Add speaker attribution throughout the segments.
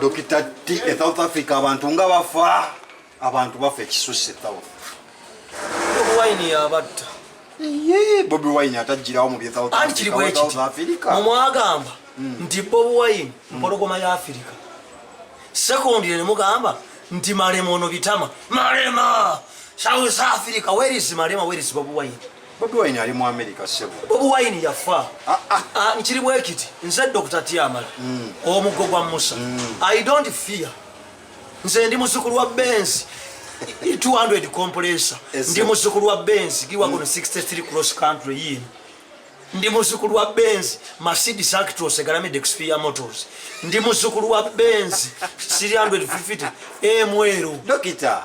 Speaker 1: Dokita T e South Africa abantu nga bafa abantu bafa ekisusse South.
Speaker 2: Bobi Wine yabatta. Yee
Speaker 1: Bobi Wine atajjirawo mu bye South Africa. Anti South Africa. Mumwagamba
Speaker 2: hmm. nti Bobi Wine hmm. mpologoma ya Africa. Sekondi ne mugamba nti malema ono bitama. Malema! South Africa, where is malema, where is Bobi Wine? Bobi Wine ali mu
Speaker 1: America sebo. Bobi Wine yafa.
Speaker 2: Ah ah. ah nkiri bwekiti. Nze Dr. Tiamala. Mm. Omuggo gwa Musa. Mm. I don't fear. Nze ndi muzukulu wa Benz. 200 compressor. Ndi muzukulu wa Benz. Giwa mm. 63 cross country yini. Ndi muzukulu wa Benz. Mercedes Actros egalamide Xperia Motors. Ndi muzukulu wa Benz. 350 MWero. Dokita.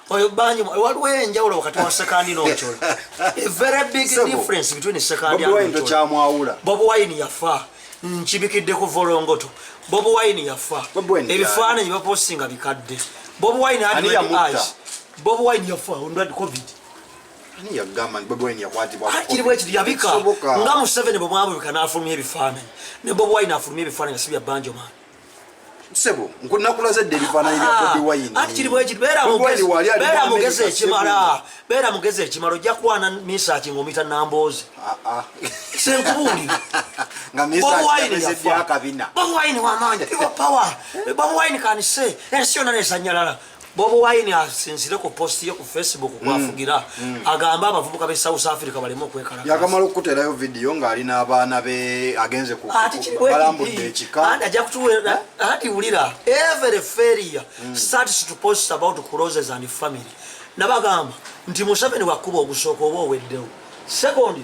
Speaker 2: oyo bangi waliwo enjawulo wakati wa sekandi n'ochola a very big difference between sekandi nokyamwawula bobi
Speaker 1: wine yafa
Speaker 2: nkibikidde ku volongoto bobi wine yafa ebifaananyi baposinga bikadde bobi wine adis bobi wine yafa onrad covid
Speaker 1: kiri bwekiri yabika
Speaker 2: nga museveni bwe mwabubika n'afulumya ebifaananyi ne bobi wine afulumya ebifaananyi si bya banjo maani sebo
Speaker 1: nkunakulaze dde ebifaananyi bya bobi ah, wine ati kiri bwekiri
Speaker 2: beera mugezi ekimala beera mugezi ekimala ojja kwana misaki ngaomita namboozi ah, ah. senkubuuli
Speaker 1: bobi wine wamaanyi people
Speaker 2: power bobi wine kanise ensi yona nesanyalala Bobo Wine asinzire ku post ye ku Facebook mm. kwafugira mm. agamba abavubuka be South Africa balimo kwekala. Yakamala okuterayo
Speaker 1: video nga ali n'abaana be agenze ku balambudde ekika. Anda ja kutuwera
Speaker 2: andi ulira every failure mm. starts to post about closes and family. Nabagamba nti Museveni wakuba ogusoko obo weddewo. Secondly